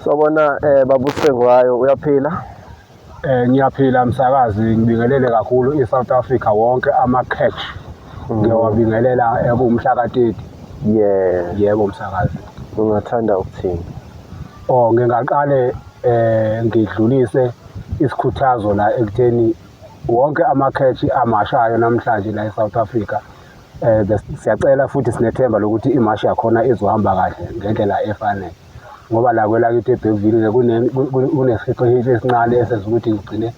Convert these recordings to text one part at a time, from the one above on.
Sawubona eh babusengwayo uyaphila? Eh ngiyaphila msakazi ngibingelele kakhulu iSouth Africa wonke ama catch mm. ngiyawabingelela ekumhla ka 30. Yeah. Yebo msakazi. Ungathanda ukuthini? Oh ngingaqale eh ngidlulise isikhuthazo la ekutheni wonke ama catch amashayo namhlanje la eSouth Africa eh siyacela futhi sinethemba lokuthi imashi yakhona izohamba kahle ngendlela efanele. ngoba la kwelakithi ebhekuvile-ke kunesiphiqo esincane esenza ukuthi ngigcine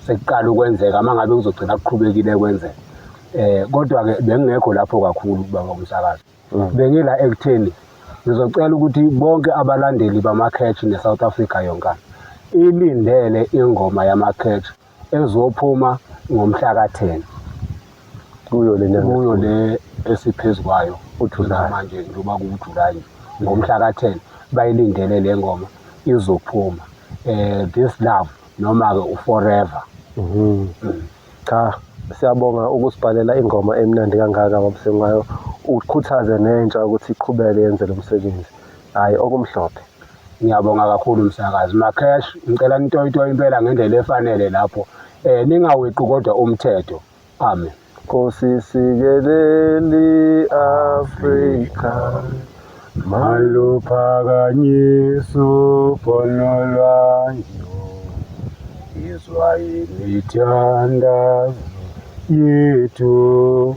sekuqala ukwenzeka uma ngabe kuzogcina kuqhubekile kwenzeka eh kodwa-ke bengingekho lapho kakhulu baba umsakazi mm. bengila ekutheni ngizocela ukuthi bonke abalandeli bama-catch ne-south africa yonkana ilindele ingoma yama-catch ezophuma ngomhla ka-10 kuyo lena kuyo le esiphezu kwayo uJulayi manje njengoba kuwuJulayi ngomhla ka-10 bayilindele le ngoma izophuma eh this love noma ke uforever mhm. mm. cha siyabonga ukusibhalela ingoma emnandi kangaka babusengwayo ukhuthaze nentsha ukuthi iqhubeke yenze lo msebenzi hayi okumhlophe ngiyabonga kakhulu msakazi macash ngicela nitoyitoye impela ngendlela efanele lapho um ningaweqi kodwa umthetho amen nkosi sikeleli afrika maluphakanyiso ponolwanyo izwa imithandazo yethu